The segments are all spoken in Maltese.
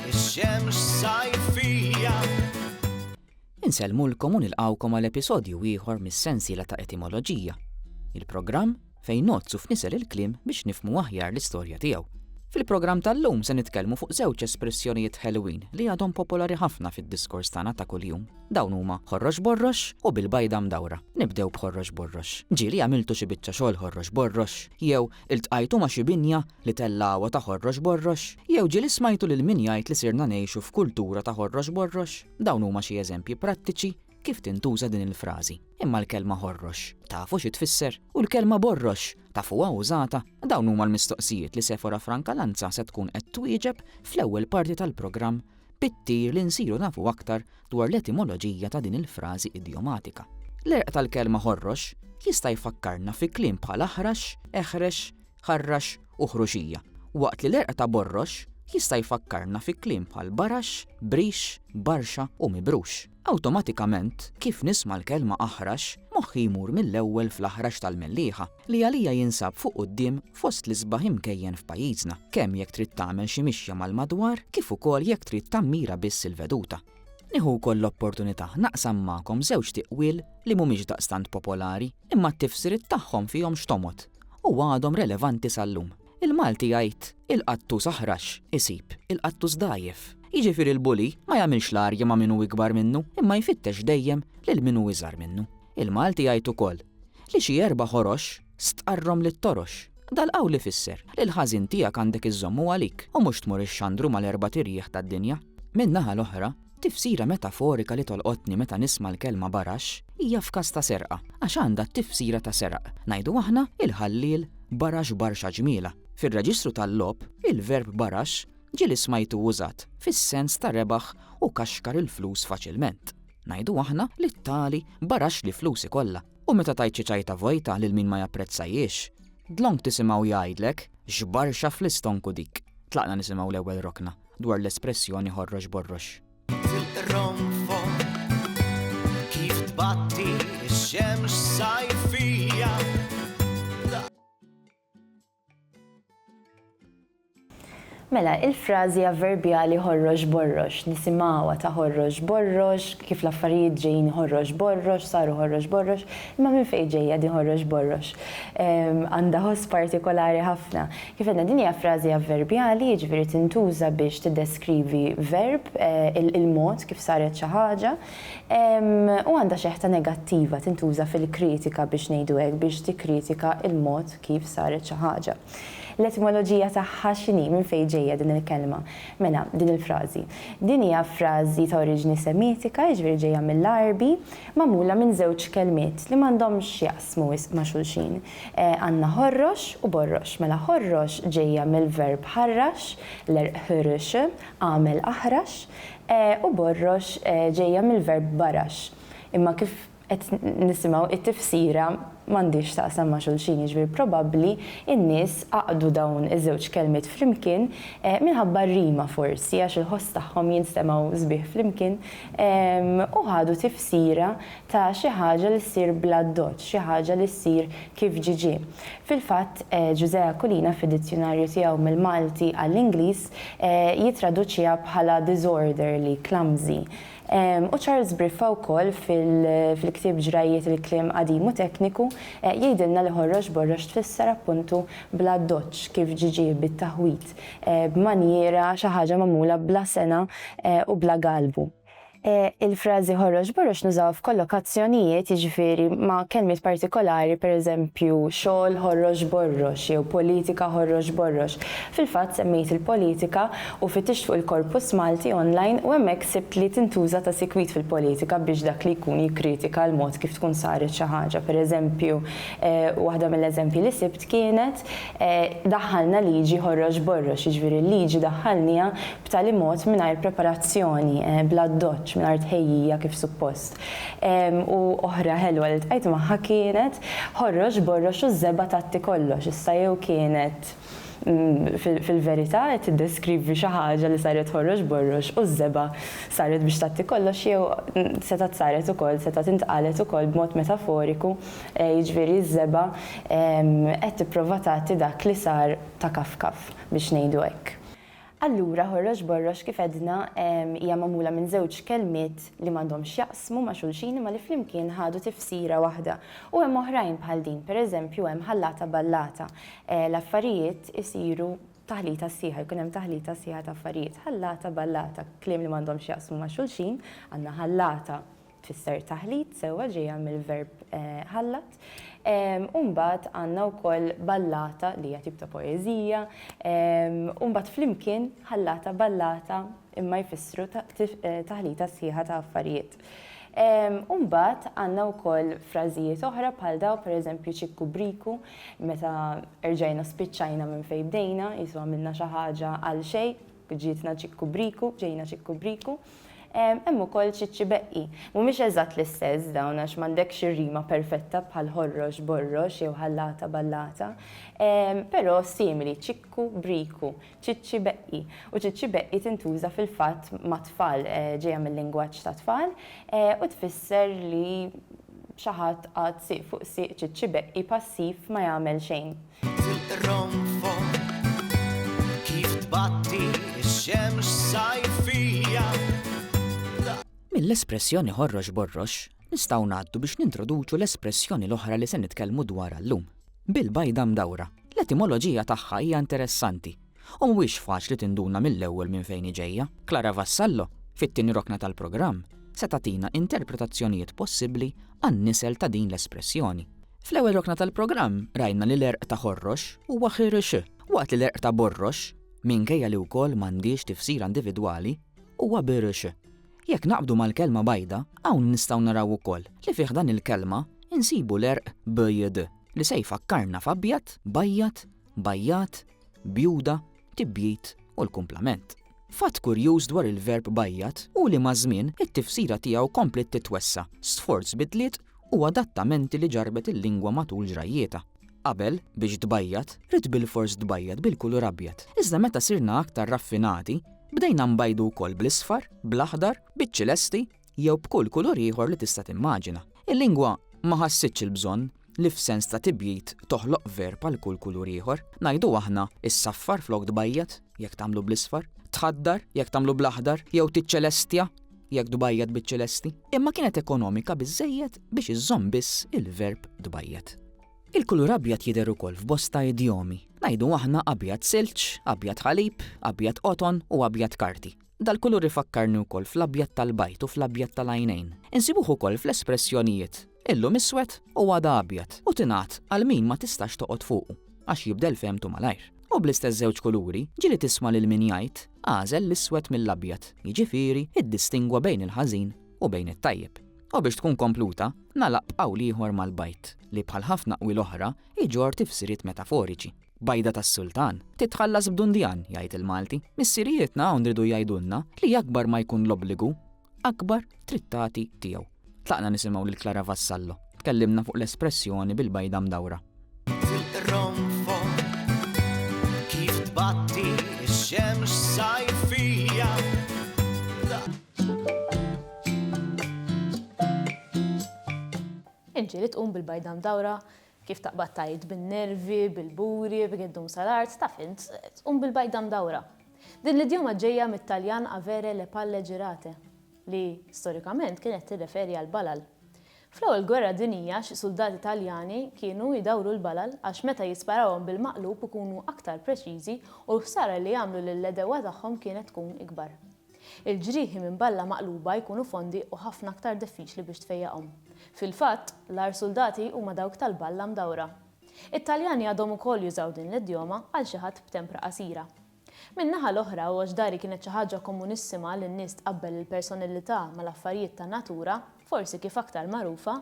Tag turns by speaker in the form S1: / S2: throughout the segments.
S1: Ix-xemx sajfija.
S2: Insellmulkom u nilqgħukom għal episodju ieħor mis-sensiela ta' Etimoloġija, il-programm fejn ngħoddsu f'nisel il-kliem biex nifhmu aħjar l-istorja tiegħu. Fil-programm tal-lum se nitkellmu fuq żewġ espressjonijiet ħelwin li għadhom popolari ħafna fid-diskors tagħna ta' kuljum. Dawn huma ħorrox borrox u bil-bajda mdawra. Nibdew b'ħorrox borrox. Ġieli għamiltu xi biċċa xogħol ħorrox borrox jew Iltqajtu ma' xi binja li tellgħuha ta' ħorrox borrox? Jew ġieli smajtu lil min jgħid li sirna ngħixu f'kultura ta' ħorrox borrox? Dawn huma xi eżempji prattiċi kif tintuża din il-frażi. Imma l-kelma ħorrox, tafu xi tfisser? U l-kelma borrox, tafuha użata? Dawn huma l-mistoqsijiet li Sephora Franca Lanza se tkun qed twieġeb fl-ewwel parti tal-programm bit-tir li nsiru nafu aktar dwar l-etimoloġija ta' din il-frażi idjomatika. L-għerq tal-kelma ħorrox jista' jfakkarna fi kliem bħal aħrax, eħrex, ħarrax u ħruxija, waqt li l-għerq ta' borrox jista' jfakkarna fi kliem bħal barax, brix, barxa u mibrux. Awtomatikament, kif nisma' l-kelma aħrax, moħħi jmur mill-ewwel fl-aħrax tal-mellieħa. li għalija jinsab fuq quddiem fost l-isbaħ imkejjen f'pajjiżna, kemm jekk trid tagħmel xi mixja mal-madwar kif ukoll jekk trid tammira biss il-veduta. Nieħu wkoll l-opportunità naqsam magħkom żewġt tiqwiel li mhumiex daqstant popolari, imma t-tifsiriet tagħhom fihom x'tomgħod u għadhom relevanti sal-lum. Il-Malti jgħid, Il-qattus aħrax, isib, il-qattus dgħajjef. Jiġifieri l-bully ma jagħmilx l-arja ma' min hu ikbar minnu imma jfittex dejjem lil min hu iżgħar minnu. Il-Malti jgħid ukoll li xi erba' ħorox stqarrhom lit-torox. Dal-qawl ifisser li l-ħażin tiegħek għandek iżżommu għalik u mhux tmur ixxandru mal-erbat irjieħ tad-dinja. Min-naħa l-oħra, tifsira metaforika li tolqotni meta nisma' l-kelma baraxx hija f'każ ta' serqa, għax għandha t-tifsira ta' seraq. Ngħidu aħna, il-ħalliel barax barxa ġmiela. Fir-reġistru tal-logħob, il-verb baraxx ġieli smajtu użat fis-sens ta' rebaħ u kaxkar il-flus faċilment. Ngħidu aħna li t-tali baraxxli flusi kollha u meta tgħid xi ċajta vojta lil min ma japprezzajhiex, dlonk tisimgħu jgħidlek, X'barxa fl-istonku dik! Tlaqna nisimgħu l-ewwel rokna dwar l-espressjoni ħorrox borrox.
S3: Mela, il-frażi avverbjali ħorrox borrox, nisimgħuha ta' ħorrox borrox, kif l-affarijiet ġejjin ħorrox borrox, saru ħorrox borrox, imma minn fejn ġejja din ħorrox borrox? Għandha ħoss partikolari ħafna. Kif għedna din hija frażi avverbjali, jiġifieri tintuża biex tiddeskrivi verb, il-mod kif saret xi ħaġa. U għandha xeħta negattiva, tintuża fil-kritika biex ngħidu hekk, biex tikkritika l-mod kif saret xi ħaġa. L-etimoloġija tagħha x'inhi, minn fejn ġejja din il-kelma? Mela, din il-frażi. Din hija frażi ta' oriġini Semitika, jiġifieri ġejja mill-Għarbi, magħmula minn żewġ kelmiet li m'għandhomx x'jaqsmu wisq ma' xulxin. Għandna ħorrox u borrox. Mela ħorrox ġejja mill-verb ħarrax, l-Għerq ħurrx, agħmel aħrax, E u borrox ġejja mill-verb barax, imma kif qed nisimgħu it-tifsira m'għandhiex x'taqsam ma' xulxin, jiġifieri probabbli n-nies għaqdu dawn iż-żewġ kelmiet flimkien minħabba r-rima forsi għax il-ħoss tagħhom jinstemgħu sbieħ flimkien u ħadu tifsira ta' xi ħaġa li ssir bl-addoċċ, xi ħaġa li ssir kif ġiġi. Fil-fatt, Ġużè Aquilina fid-dizzjunarju tiegħu mill-Malti għall-Ingliż, jittraduċiha bħala disorderly, clumsy, u Charles Briffa wkoll fil-ktieb Ġrajjiet il-kliem qadim u tekniku jgħidilna li ħorrox borrox tfisser appuntu bla doċċ, kif ġie ġie bit-taħwid, b'manjiera, xi ħaġa magħmula bla sengħa u bla galbu. Il-frażi ħorox borox nużawha f'kollokazzjonijiet, jiġifieri ma' kelmiet partikolari, pereżempju, xogħol ħorox borrox jew politika ħorox borrox. Fil-fatt semmejt il-politika u fittixt fuq il-korpus Malti online u hemmhekk sibt li tintuża ta' sikwit fil-politika biex dak li jkun jikkritika l-mod kif tkun saret xi ħaġa. Pereżempju, waħda mill-eżempji li sibt kienet, daħħalna liġi ħorox borrox, jiġifieri l-liġi daħħalniha b'tali mod mingħajr preparazzjoni, bl-addoċċ, mingħajr tħejjija kif suppost. U oħra ħelwa li ltqajt magħha kienet ħorrox borrox u żebgħa tgħatti kollox. Issa jew kienet fil-verità qed tiddeskrivi xi ħaġa li saret ħorrox borrox u ż-żebgħa saret biex tgħatti kollox jew setgħet saret ukoll, setgħet intqalet ukoll b'mod metaforiku, jiġifieri ż-żebgħa qed tipprova tgħatti dak li sar ta' kaf kaf, biex ngħidu hekk. Allura Ħorrox Borrox kif għedna hija magħmula minn żewġ kelmiet li m'għandhomx x'jaqsmu ma' xulxin imma li flimkien ħadu tifsira waħda. U hemm oħrajn bħal din, per eżempju hemm ħallata ballata. L-affarijiet isiru taħlita sħiħa, jkun hemm taħlita sħiħa ta' affarijiet. Ħallata ballata, kliem li m'għandhomx x'jaqsmu ma' xulxin, għandna ħallata. tfisser taħlit sewwa ġejja mill-verb ħallat. U mbagħad għandna wkoll ballata li hija tip ta' poeżija. U mbagħad flimkien ħallata ballata imma jfissru taħlita sħiħa ta' affarijiet. U mbagħad għandna wkoll frażijiet oħra bħal daw pereżempju ċikku briku meta erġajna spiċċajna minn fejn bdejna, qisu għamilna xi ħaġa għal xejn. Ġietna ċikku briku, ġejna ċikku briku. Hemm ukoll ċiċċi beqqi. Mhumiex eżatt l-istess dawn għax m'għandekx ir-rima perfetta bħal ħorrox, borrox jew ħallata, ballata. Però simili, ċikku briku, ċiċċi beqqi. U ċiċċi beqqi tintuża fil-fatt mat-tfal, ġejja mil-lingwaġġ tat-tfal u tfisser li xi ħadd qagħad sieq fuq sieq ċiċċi beqqi passiv ma jagħmel xejn.
S2: Mill-espressjoni ħorrox borrox, nistgħu ngħaddu biex nintroduċu l-espressjoni l-oħra li se nitkellmu dwarha llum. Bil-bajda mdawra. L-etimoloġija tagħha hija interessanti u mhuwiex faċli tinduna mill-ewwel minn fejn hi ġejja. Clara Vassallo, fit-tieni rokna tal-programm, se tagħtina interpretazzjonijiet possibbli għan-nisel ta' din l-espressjoni. Fl-ewwel rokna tal-programm rajna li l-għerq ta' Ħorrox huwa Ħirrx, waqt li l-għerq ta' Borrox, minkejja li wkoll m'għandhiex tifsira individwali, huwa Birrx. Jekk naqbdu mal-kelma bajda, hawn nistgħu naraw ukoll li fi ħdan il-kelma insibu l-għerq bjd, li se jfakkarna f'abjad, bajjad, bajjat, bjuda, tibjid u l-kumplament. Fatt kurjuż dwar il-verb bajjat hu li maż-żmien it-tifsira tiegħu kompliet titwessa' sforz bidliet u adattamenti li ġarrbet il-lingwa matul ġrajjietha. Qabel, biex tbajjat, ridt bilfors tbajjat bil-kulur abjad. Iżda meta sirna aktar raffinati, bdejna nbajdu wkoll bl-isfar, bl-aħdar, biċ-ċilesti, jew b'kull kulur ieħor li tista' timmaġina. Il-lingwa ma ħassitx il-bżonn li f'sens ta' tibjid toħloq verb għal kull kulur ieħor. Ngħidu aħna, issaffar flok tbajjad, jekk tagħmlu bl-isfar, tħaddar, jekk tagħmlu bl-aħdar, jew tiċċelestja, jekk tbajjad biċ-ċelesti. Imma kienet ekonomika biżżejjed biex iżżomm biss il-verb tbajjad. Il-kulur abjad jidher ukoll f'bosta idjomi. Ngħidu aħna abjad silġ, abjad ħalib, abjad qoton u abjad karti. Dal-kulur ifakkarni wkoll fl-abjad tal-bajd u fl-abjad tal-għajnejn. Insibuh ukoll fl-espressjonijiet, illum iswed u għada abjad, u tingħad għal min ma tistax toqgħod fuqu, għax jibdel fehmtu malajr. U bl-istess żewġ kuluri, ġieli tisma' lil min jgħid, Agħżel l-iswed mill-abjad, jiġifieri, iddistingwa bejn il-ħażin u bejn it-tajjeb. U biex tkun kompluta, nagħlaq b'qawl ieħor mal-bajd, li bħal ħafna qwiel oħra, iġorr tifsiriet metaforiċi. Bajda tas-Sultan, titħallas b'dundjan, jgħid il-Malti. Missirijietna hawn ridu jgħidulna li akbar ma jkun l-obbligu, akbar trid tagħti tiegħu. Tlaqna nisimgħu lil Clara Vassallo. Tkellimna fuq l-espressjoni bil-bajda mdawra.
S1: Inġieli
S4: tqum bil-bajda mdawra Kif taqbad tgħid bin-nervi, bil-buri, b'gheddum sal-art, taf int, tqum bil-bajda mdawra. Din l-idjoma ġejja mit-Taljan avere le palle girate, li, storikament, kienet tirreferi għall-balal. Fl-Ewwel Gwerra Dinjija xi suldati Taljani kienu jdawru l-balal għax meta jisparawhom bil-maqlub ikunu aktar preċiżi u l-ħsara li jagħmlu lill-għedewwa tagħhom kienet tkun ikbar. Il-ġrieħi minn balla maqluba jkunu fondi u ħafna aktar diffiċli biex tfejjaqhom. Fil-fatt, l-agħar suldati huma dawk tal-balla mdawra. It-Taljani għadhom ukoll jużaw din l-idjoma għal xi ħadd b'tempra qasira. Min-naħa l-oħra, għox dari kienet xi ħaġa komunissima li n-nies tqabbel il-personillità mal-affarijiet tan-natura, forsi kif aktar magħrufa,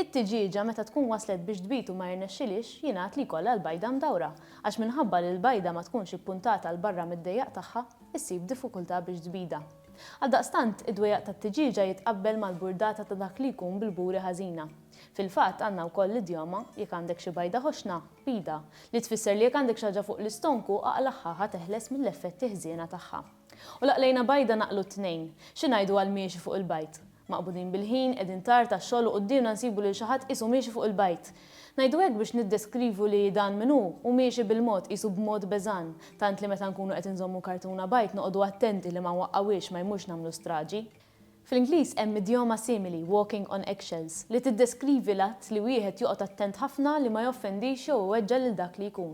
S4: it-tiġieġa meta tkun waslet biex tbid u ma jirnexxilhiex, jingħad li jkollha l-bajda mdawra, għax minħabba li l-bajda ma tkunx ippuntata 'l barra mid-dejjaq tagħha, issib diffikultà biex tbidha. Għaldaqstant, id-dwejjaq tat-tiġieġa jitqabbel mal-burdata ta' dak li jkun bil-buri ħażina. Fil-fatt, għandna wkoll l-idjoma, Jekk għandek xi bajda ħoxna, bidha, li tfisser li jekk għandek xi ħaġa fuq l-istonku, aqlagħha, ħa teħles mill-effetti ħżiena tagħha. U l-għaqlejna bajda naqlu t-tnejn. Xi ngħidu għall-miexi fuq il-bajd? Maqbudin bil-ħin, qegħdin tard għax-xogħol u quddiemna nsibu lil xi ħadd qisu miexi fuq il-bajd. Ngħidu hekk biex niddeskrivu li dan min hu, hu miexi bil-mod, qisu b'mod beżgħan, tant li meta nkunu qed inżommu kartuna bajd noqogħdu attenti li ma nwaqqgħuhiex ma jmurx nagħmlu straġi. Fl-Ingliż hemm idjoma simili, walking on eggshells, li tiddeskrivi l-att li wieħed joqgħod attent ħafna li ma joffendix jew iweġġa' lil dak li jkun.